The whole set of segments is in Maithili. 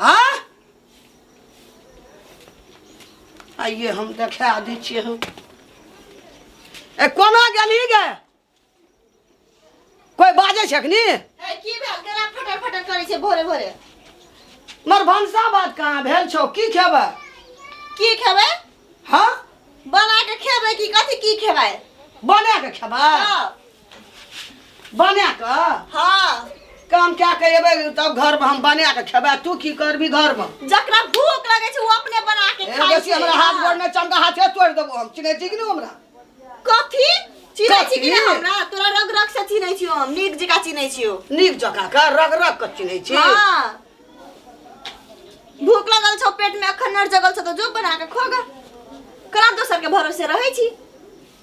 हाँ आइए हम देखा दी छिए हम ए कोना गेली गे कोई बाजे छै अखनी ए, की भेल केना फटर फटर करै छै भोरे भोरे मर भनसा बात कहाँ भेल छौ की खेबै की खेबै हाँ बना के खेबै कि कथी की खेबै बना के खेबै हाँ। बना कऽ हाँ काम कए कऽ एबै तब घरमे हम बना कऽ खेबै तू की करबी घरमे जकरा भूख लगे छै वो अपने बना के ए, खाई बेसी छै हमरा हाथ हाँ। गोड़मे चमका हाथे तोड़ि देबो हम चिन्है छी कि नहि हमरा कथी चिनै छी कि कथी? नहि हमरा तोरा रग रग से चिनै छियो हम नीक जका चिनै छियो नीक जकाँ कऽ रग रग कऽ चिन्है छी हाँ भूख लगल छौ पेट में अखन नर जगल छौ तो जो बना के खो गा कला दोसर के भरोसे रहै छी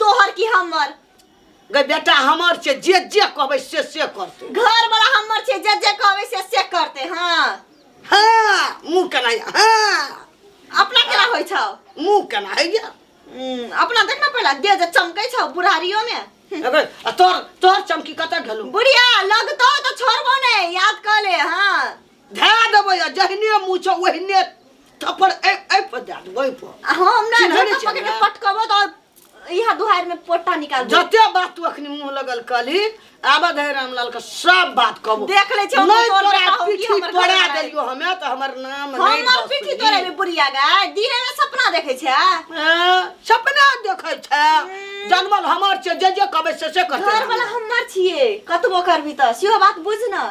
तोहर की हमर गे बेटा हमर छै जे जे कहबै से से करतै घर वाला हमर छै जे जे कहबै से से करते हाँ हाँ मुँह केना यऽ? हाँ अपना केना होइ छौ मुँह केना होइए हम्म, अपना देख ना पहला दे जे चमकै छौ बुढ़ारियो में अबे आ तोर तोर चमकी कतऽ गेलौ बुढ़िया लगतौ तो छोड़बो नहीं याद कर ले हाँ धए देबै आ जहने मुँह छौ ओहने थप्पड़ एहि एहि पर दए देबै एहि पर आ हम ना चिन्है नहि झोटा पकड़ के चिन्है। पटकबो तो इहा दुहार में पोटा निकाल दे जते बात तू अखनी मुंह लगल कहली आबा धै रामलाल के सब बात कहबो देख लै छियै, हम नहीं तोर तोरा बेटा हौ कि पीठी हमर तोड़ा घर वाला देलियो हमे त हमर नाम नहीं हमर दस पीठी ली। तोरे में बुढ़िया गाय दिने में सपना देखे छै हाँ, सपना देखै छै जनमल हमर छै जे जे कहबै से से करतै घर वाला हमर छिए कतबो करबी त सेहो बात बुझ न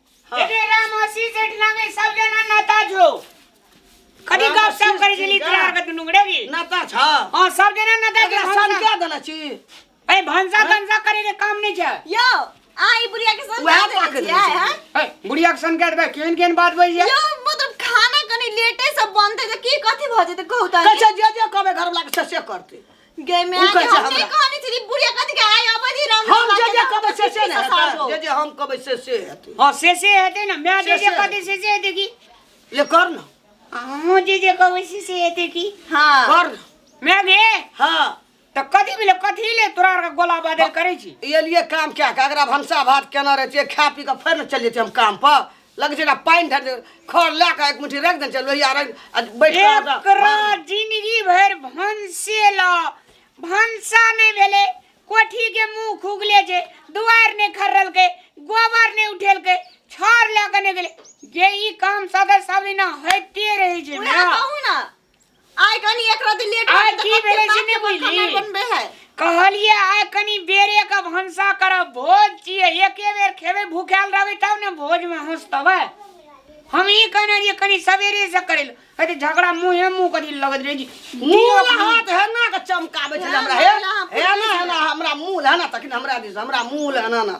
हाँ। एडे राम हसी जेठ लागे सब जना नाता जो कदी राम गप सब हसी करे जली जेठ तेरा लागे। के दुनु गड़े की नाता छा हां सब जना नाता एकरा के सन क्या देना छी ए भंसा भंसा करे के काम नहीं छै यो आई बुढ़िया के साथ वएह बात पाके करके देने आए छी। हैं ए बुढ़िया के सन के देबे केन केन बात बज यो जाय मतलब खाना कनी लेटे से बनते तो की कथी भ जेते कहू त अच्छा जे जे कबे घर वाला के से से करते गे मैं उ कैसे हम से हमरा? कहनी थी बुढ़िया कथी के आय अबधी राम हम जे जे कहबै से से ने हेतै जे जे हम कहबै से से हेतै हाँ से से हेतै ना मैं जे जे से से। कहतै से से हेतै की ले कर न अहूँ जे जे कहबै से से हेतै की हां कर न मैं गे हाँ तऽ कथी भेलै कथी ले तोरा आरके गोला बादल करै छी ये लिए काम क्या का अगर आप हमसा भात केना रहते खा पी के फिर न चल जाते हम काम पर लग जेना पानि धर खर लए कऽ एक मुट्ठी राखि देने छै लोहिया राखि आ बैठ कऽ एकरा ओकरा जिंदगी भरि भनसे ल भनसा नहि भेलै कोठी के मुंह खुगले छै दुआर नहि खर्रलकै गोबर नहि उठेलकै छर लए के नहि गेलै जे ई काम सदा सदिना होइते रहै छै उहे ने कहू ने आइ कनी एक रति लेट आइ की भेलै से नहि बुझली? बनबे है कहलिए आइ कनी बेरे के भनसा करब भोज छियै एके बेर खेबै भूखायल रहबै तब ने भोज में हंसतबै हम ई कहने रहिए कनी सवेरे से करे ले अरे झगड़ा मुंहे मुंह करी लगत रहे जी मुंह दियो हाथ हेना के चमकाबै छै हमरा हे हेना हेना हमरा मुंह हेना तखन हमरा दिस हमरा मुंह हेना ना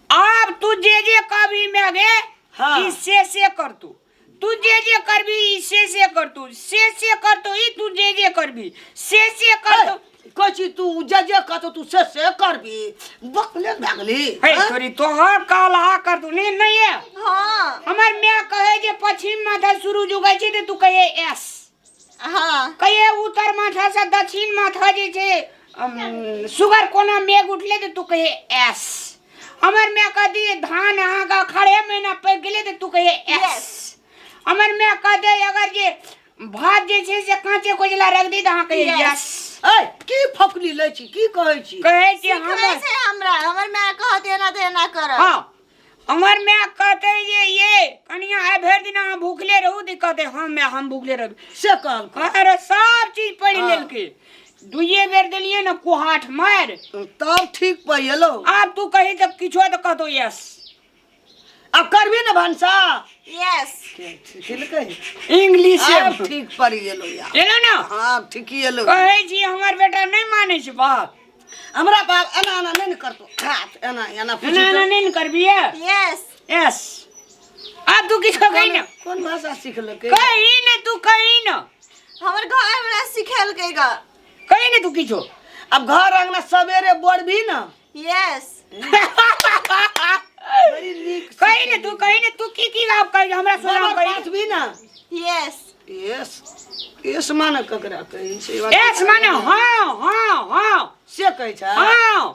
आब तू जे जे कहबी मैं गे हाँ। ई से से कर तू तू जे जे करबी ई से से कर तू से से कर तू ई तू जे जे करबी से से कर तू कहै छी तू जे जे कहतो तू से से करबी बकले भए गेली हे हाँ? तोरी तोहर कहला कर तू नहीं नहीं है हाँ हमर मैं कहे जे पश्चिम माथा शुरू जुगै छी ते तू कहे एस कहिए उत्तर माथा से दक्षिण माथा जे छै सुगर कोना मेघ उठले तऽ तू कहे एस हमर माय कह दिए धान अहाँके खड़े महीना पकि गेलै तऽ तू कहे एस हमर माय कह दे अगर जे भात जे छै से काँचे कोजला रख दी तऽ अहाँ कहे यस ए की फफली लै छी की कहै छी कहै छी हमर हमरा हमर माय कह देना देना कर हाँ हमर माय कहते ये ये कनिया आइ भरि दिन अहाँ भूखले रहू तऽ ई कहते हम माय हम भूखले रहू से कहलकै अरे सब चीज पढ़ि लेलकै दुइये बेर देलियै ने कुहाठ मारि तब ठीक पै एलो आब तू कही तऽ किछो तऽ कहतो यस अब करबी ने भनसा यस खेलकै इंग्लिश आब ठीक पड़ गेलो यार एलो ने हाँ ठीक ही एलो कहै छी हमर बेटा नहि मानै छै बाप हमरा बाप एना एना नहि ने करतो खात एना एना पूछी एना एना नहि ने करबिए यस यस आब तू किछो कही ने कोन भाषा सिखलकै कही ने तू कही ने हमर घर हमरा सिखेलकै ग कही ने तू किछो आब घर अंगना सवेरे बोरबी ने यस बड़ी नीक कही ने तू कही ने तू की की लाभ कही हमरा से लाभ कही बात भी ना यस यस यस माने ककरा कहै छै एस माने हां हां हां से कहै छै हां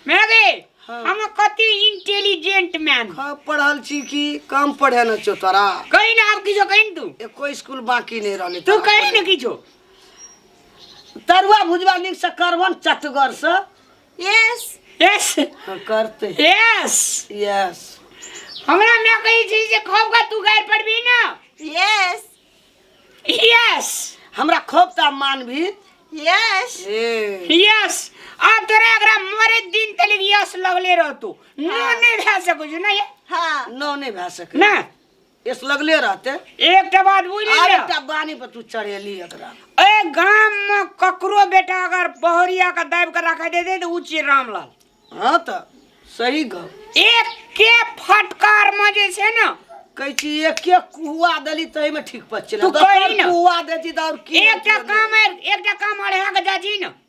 मेरे हाँ। हम कति इंटेलिजेंट मैन हाँ, पढ़ल छी कि कम पढ़े न छो तोरा कहीं ना आप किछो कहीं तू एको स्कूल बाकी नहीं रहले तू कहीं ना किछो तरुआ भुजवा नीक से करवन चटगर से यस यस करते यस यस हमरा माय कहै छै जे खौफ का तू गारि पड़बी ना यस यस हमरा खोप ता मानभी यस ए यस अब तोरा एकरा मरे दिन तलिक यस लगले रहतो नो हाँ। नहीं भए सकै छै ना ये हाँ नो नहीं भए सके ना एस लगले रहते एकटा बात बुझि आब लिअ एकटा बानी पर तू चढ़ेली एकरा एहि गाममे ककरो बेटा अगर बहरिया के दाबि कऽ राखै दे दे तऽ ओ छियै रामलाल हाँ तऽ सही गप एके फटकारमे जे छै ने कहै छी एके कुआ देली तही में ठीक पर चले तू कही न। कुआ देती तऽ और की एकटा काम एकटा काम अढ़ा कऽ जाइ छी ने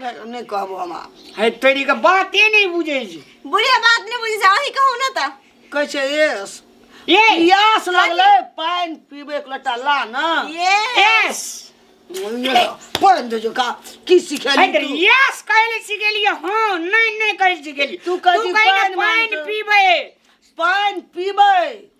नहि कहबो हम आब है तेरी के बाते नहीं बुझे छी बुढ़िया बात नहीं बुझे छी अही कहू ना त कहै छै एस ये पियास लगले पानि पीबे एक लोटा ला ना ये यस पानि दे जो का की सिखेली है तेरी तू? यस कहले सिखेलिए हां नहीं नहीं कहले सिखेलिए तू कहली पानि मांगतो। पानि पीबे पानि पीबै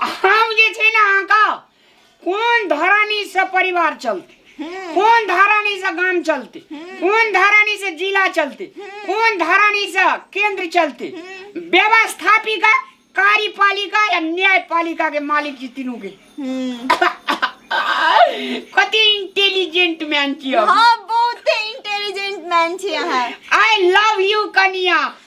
हम जे छै ने अहाँके कोन धरानी से परिवार चलते कोन धरानी से गाम चलते कोन धरानी से जिला चलते कोन धरानी से केंद्र चलते व्यवस्थापिका कार्यपालिका या न्यायपालिका के मालिक जी तीनू के कति इंटेलिजेंट मैन छी हम हाँ बहुते इंटेलिजेंट मैन छी अहाँ आई लव यू कनिया